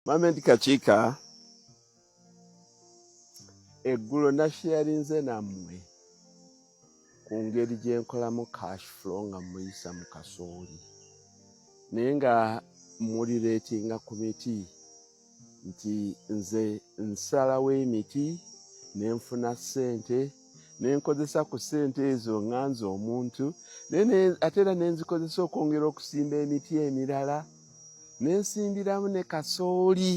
Mohammed Kakiika eggulo nasheyarinze nammwe ku ngeri gye nkolamu cash flow nga muyisa mu kasooli naye nga muli reetinga ku miti nti nze nsalawo emiti ne nfuna ssente nenkozesa ku ssente ezo nga nze omuntu ate era nenzikozesa okwongera okusimba emiti emirala nensimbiramu ne kasooli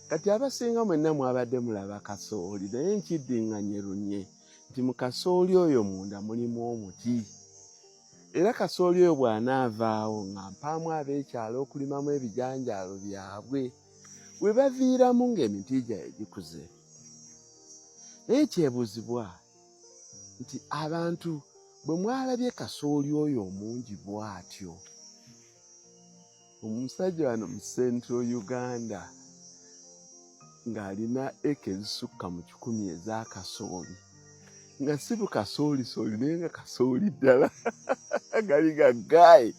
kati abasinga mwenna mwabadde mulaba kasooli naye nkiddinganyerunye nti mu kasooli oyo munda mulimu omuti era kasooli oyo bw'anaavaawo nga mpaamu ab'ekyalo okulimamu ebijanjaalo byabwe we baviiramu ng'emiti gyabwe gikuze naye kyebuuzibwa nti abantu bwe mwalabye kasooli oyo omungi bwatyo omusajja wano mu central uganda ng'alina eka ezisukka mu kikumi eza kasooli nga si bukasoolisooli naye nga kasooli ddala gali ga gayi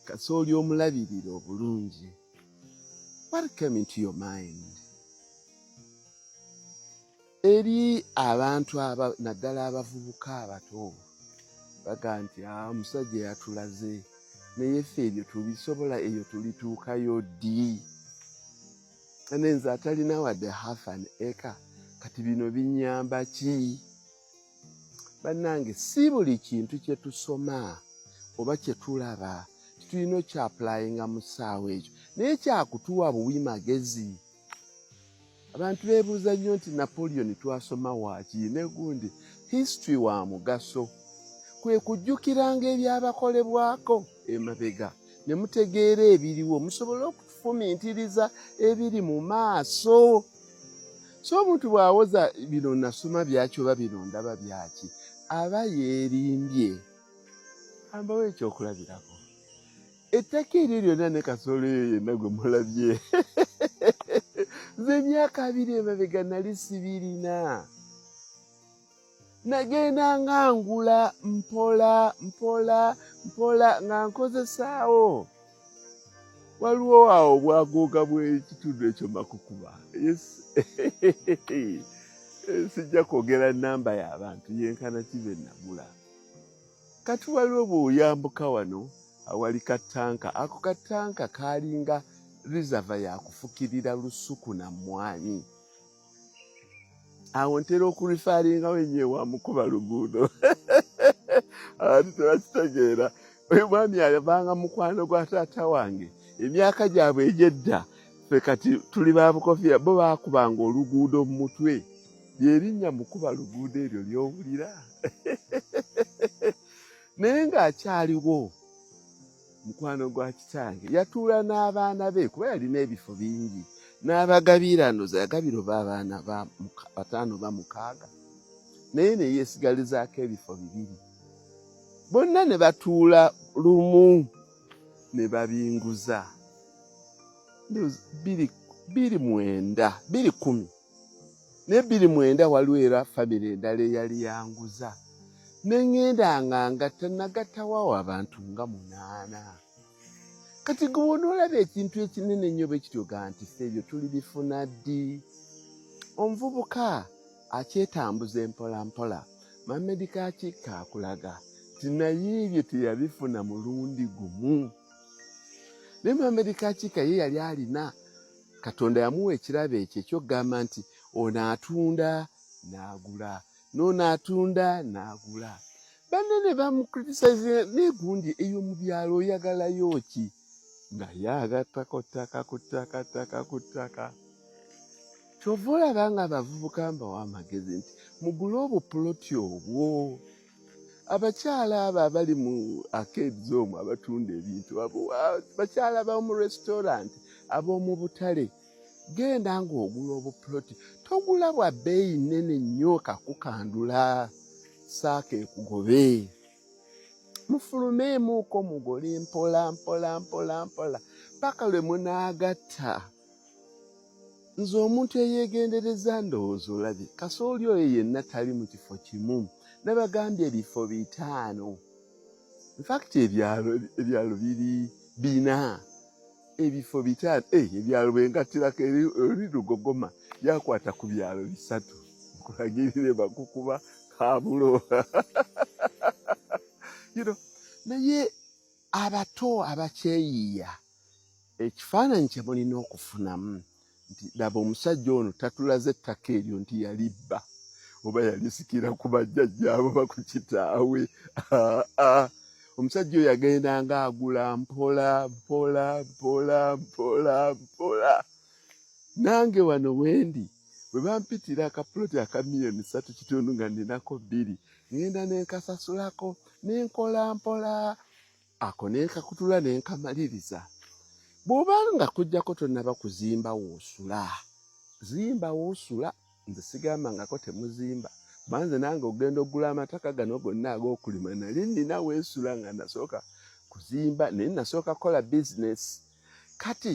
kasooli omulabirira obulungi what came into your mind eri abantu aba naddala abavubuka abato baga nti ah, omusajja yatulaze naye ffe ebyo tubisobola eyo tulituukayo ddi ane nze atalina wadde half an acre kati bino binyamba ki bannange si buli kintu kye tusoma oba kye tulaba titulina okyapulayinga mu ssaawa ekyo naye kyakutuwa buwi magezi abantu beebuuza nnyo nti napoleon twasoma waaki negundi history wa mugaso kwe kujjukiranga ebyabakolebwako emabega ne mutegeera ebiriwo musobole okufumintiriza ebiri mu maaso so omuntu bw'awoza bino nasoma byaki oba bino ndaba byaki aba yeerimbye ambawo ekyokulabirako ettaka eryo lyonna ne kasolo eyo yenna gwe mulabye nze emyaka abiri emabega nali sibirina nagenda nga ngula mpola mpola mpola nga nkozesaawo waliwo awo bwagooga bw'ekitundu ekyo makukuba sijja kwogera namba y'abantu yenkana kibe nagula Kati waliwo bw'oyambuka wano awali katanka, ako katanka kaalinga rizava yakufukirira lusuku na mmwanyi. Awo ntera okulifaalingawo ennyo ewa mukuba luguudo ati tebakitegeera. Oyo mwami yavanga mukwano gwa taata wange emyaka gyabwe egy'edda, ffe kati tuli ba bukofiira, bo baakubanga oluguudo mu mutwe. lyerinnya mukuba luguudo eryo lyowulira naye ng'akyaliwo mukwano gwa kitange yatuula n'abaana be kuba yalina ebifo bingi n'abagabirano zagabiro baabaana bataano ba mukaaga naye ne yeesigalizaako ebifo bibiri bonna ne batuula lumu ne babinguza biri mwenda biri kumi n'ebbiri mwenda waliwo era famire endala eyali yanguza ne ŋŋenda nga ngatta nagattawawo abantu nga munaana kati gwe onoolaba ekintu ekinene nnyo bwe kityo ga nti fe ebyo tuli bifuna ddi omuvubuka akyetambuza empola mpola mamedika akikka akulaga ti naye ebyo teyabifuna mulundi gumu naye mamedika akikka ye yali alina katonda yamuwa ekirabo ekyo ekyokugamba nti ono atunda n'agula noono atunda n'agula banne ne bamukritisaze naye gundi eyo mu byalo oyagalayo ki naye agattako ttaka ku ttaka ttaka ku ttaka kyova olaba nga abavubuka mbawo amagezi nti mugule obupuloti obwo abakyala abo abali mu arcades omwo abatunda ebintu bakyala bamu restaurant ab'omu butale genda ng'ogula obupuloti togula bwa bbeeyi nnene nnyo kakukandula saaka ekugobe mufulumeemuuko mugole mpola mpola mpola mpola paka lwe munaagatta nze omuntu eyegendereza ndowooza olabye kasooli oyo yenna tali mu kifo kimu nabagambye ebifo bitaano infakiti ebyalo biri bina ebifo bitaano eh, ebyalo bwengattirako eri lugogoma yakwata ku byalo bisatu nkulagirire bakukuba kabulo naye abato abakyeyiiya Ekifaananyi kye mulina okufunamu nti laba omusajja ono tatulaze ettaka eryo nti yalibba oba yalisikira ku bajjajjaabo ba ku kitaawe omusajja oyo agenda nga agula mpola mpola mpola mpola mpola nange wano wendi bwe bampitira akapuloti aka miliyoni satu kitundu nga ninako bbiri ngenda nenkasasulako nenkola mpola ako nenkakutula nenkamaliriza bwoba nga kujjako tonaba kuzimba woosula zimba woosula nze sigamba ngako temuzimba banze nange ogenda okugula amataka gano gonna ag'okulima nali nina weesula nga nasooka kuzimba naye nasooka kukola bizinesi kati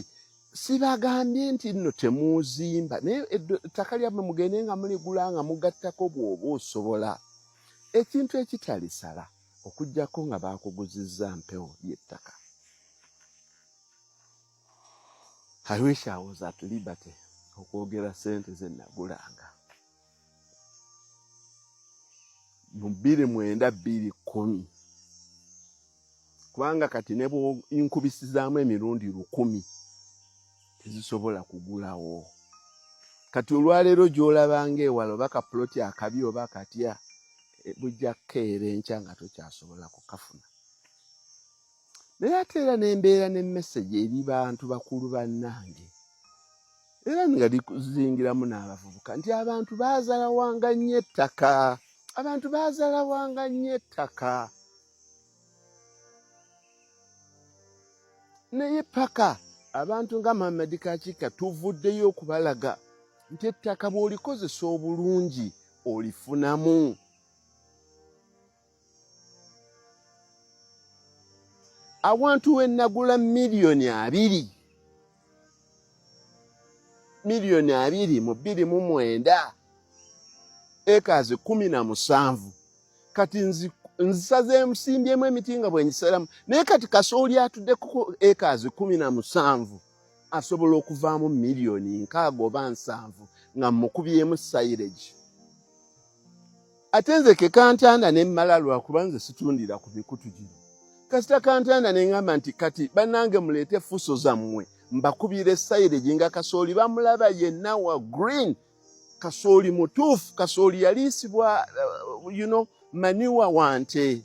sibagambye nti nno temuuzimba naye ettaka lyammwe mugende nga muligula nga mugattako bwoba osobola ekintu ekitalisala okujjako nga baakuguzizza mpewo y'ettaka i wish i was at liberty okwogera sente ze nagulanga mu bbiri mwenda bbiri kkumi kubanga kati ne bwonkubisizaamu emirundi lukumi tezisobola kugulawo kati olwaleero gyolaba nga ewala oba kapuloti akabi oba katya eh, bujja kukeera enkya nga tokyasobola kukafuna naye ate era nembeera ne message eri bantu bakulu bannange era nga likuzingiramu n'abavubuka nti abantu baazalawanga nnyo ettaka abantu baazalawanga nnyo ettaka naye paka abantu nga muhammadi kakika tuvuddeyo okubalaga nti ettaka bw'olikozesa obulungi olifunamu awantu we nagula miliyoni abiri miliyoni abiri mu bbiri mu mwenda ekazi kumi na musanvu kati nzisaze emusimbyemu emiti nga bwengiseramu naye kati kasooli atudde ku ekazi kumi na musanvu asobola okuvaamu miliyoni nkaaga oba nsanvu nga mukubyemu sairegi ate nze ke kantanda ne mmala lwakuba nze situndira ku mikutu gino kasita kantanda ne ŋŋamba nti kati bannange muleete fuso zammwe mbakubira essayire gye nga kasooli bamulaba yenna wa green kasooli mutuufu kasooli yaliisibwa uh, you know, maniwa wante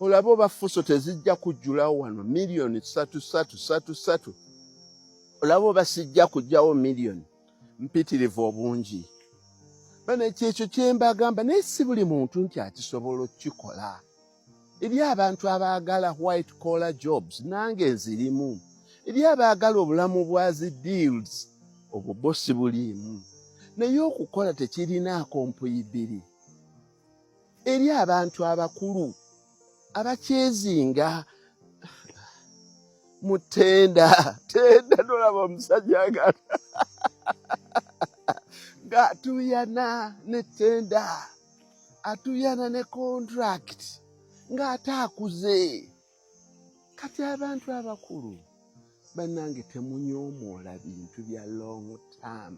olaba oba fuso tezijja kujjulawo wano miliyoni satu satu satu satu olaba oba sijja kujjawo miliyoni mpitirivu obungi bana kyekyo kyembagamba naye si buli muntu nti akisobola okukikola eri abantu abaagala white collar jobs nange nzirimu eri abaagala obulamu bwa zi deals obwo bo si buliimu naye okukola tekirinaako mpuyi bbiri eri abantu abakulu abakyezinga mutenda tenda nolaba omusajja nga nga atuyana ne tenda atuyana ne contract ng'ate akuze kati abantu abakulu banange temunyomoola bintu bya long term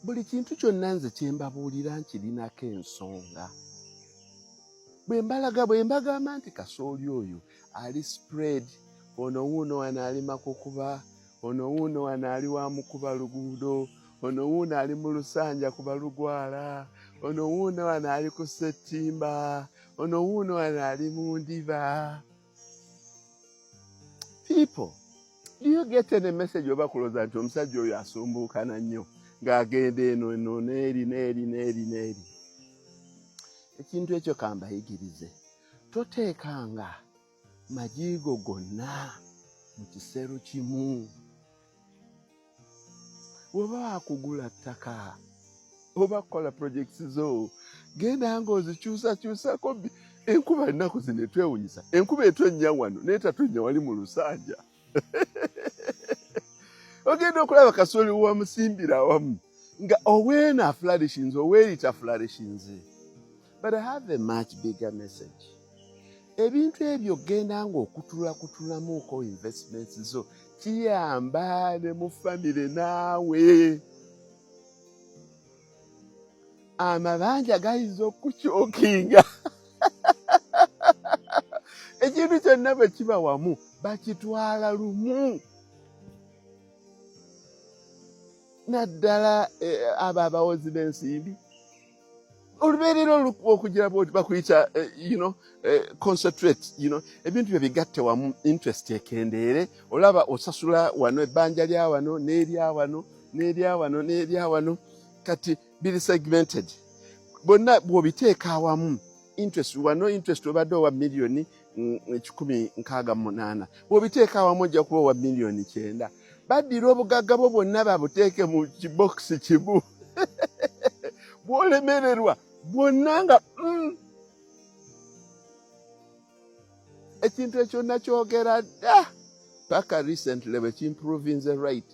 buli kintu kyonna nze kyembabuulira nkirinako ensonga bwe mbalaga bwe mbagamba nti kasooli oyo ali spread ono wuuno wano ali makukuba ono wuuno wano ali wa mukuba luguudo ono wuuno ali mu lusanja kuba lugwala ono wuuno wano ali ku settimba ono wuuno wano ali mu ndiba people do you get any message oba kuloza nti omusajja oyo asumbuukana nnyo ng'agenda eno eno neeri neeri neeri neeri ekintu ekyo kambayigirize toteekanga magiigo gonna mu kisero kimu woba wakugula ttaka oba kukola projects zo genda nga ozikyusakyusako enkuba ennaku zino etwewunyisa enkuba etonnya wano naye tatonnya wali mu lusanja ogenda okulaba kasoli wamusimbira awamu nga owena afularishinze oweyita afularishinze but i have a much bigger message ebintu ebyo genda nga okutulakutulamuuko investments zo kiyamba ne mu famire naawe amabanja gayinza okukyukinga ekintu kyonna bwe kiba wamu bakitwala lumu naddala eh, abo abawozi b'ensimbi olubeerera okugira bwoti bakuyita eh, you know eh, concentrate you know ebintu byo bigatte wamu interest ekendeere olaba osasula wano ebbanja lya wano n'erya wano n'erya wano n'erya wano kati biri segmented bonna bw'obiteeka awamu interest wano interest obadde owa miliyoni mm, ekikumi nkaaga munaana bw'obiteeka awamu ojja kuba owa miliyoni kyenda baddira obugagga bwo bwonna babuteeke mu kibokisi kimu bwolemererwa bwonna nga mm. ekintu ekyo nakyogera dda paka recently bwekimprovinze right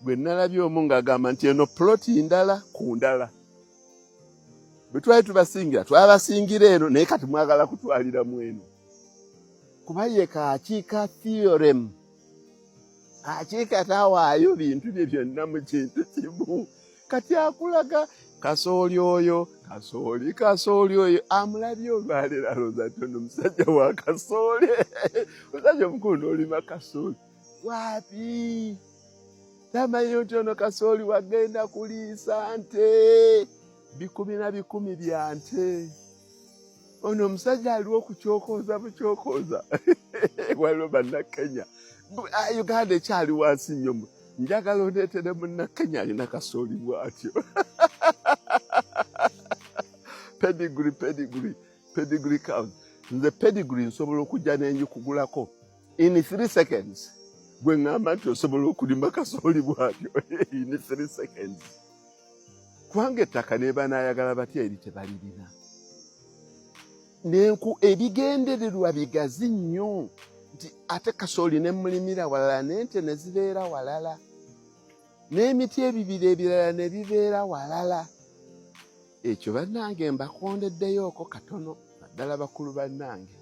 gwe nalabye omu ngaagamba nti eno ploti ndala ku ndala bwe twali tubasingira twabasingira eno naye kati mwagala kutwalira mu eno kuba ye kakiika theorem kakiika tawaayo bintu bye byonna mu kintu kimu kati akulaga kasooli oyo kasooli kasooli oyo amulabye olwaleero alooza ti ono musajja wa kasooli omusajja omukulu noolima kasooli waapi tamanyi nti ono kasooli wagenda kuliisa nte bikumi na bikumi bya nte ono omusajja aliwo okukyokooza bukyokooza waliwo bannakenya ah, uganda ekyali wansi nnyo njagala ondeetere munnakenya alina kasooli bwatyo pedigri pedigri pedigri count nze pedigri nsobola okujja nenjikugulako in three seconds gwe ŋamba nti osobola okulima kasooli bwatyo in three seconds kubanga ettaka nebanayagala batya eri tebalirina nenku ebigendererwa bigazi nnyo nti ate kasooli ne mulimira walala nente ne zibeera walala n'emiti ebibiri ebirala ne bibeera walala ekyo bannange mbakondeddeyoko katono naddala bakulu bannange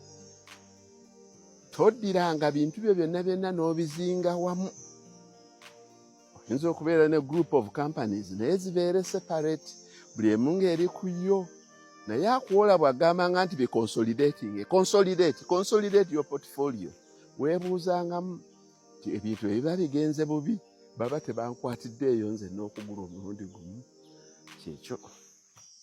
toddiranga bintu byo byonna byonna n'obizinga wamu oyinza okubeera ne group of companies naye zibeere separate buli emu ng'eri ku yo naye akuwola bw'agamba nga nti biconsolidating consolidate consolidate your portfolio weebuuzangamu nti ebintu ebiba bigenze bubi baba tebankwatiddeeyo nze n'okugula omulundi gumu kyekyo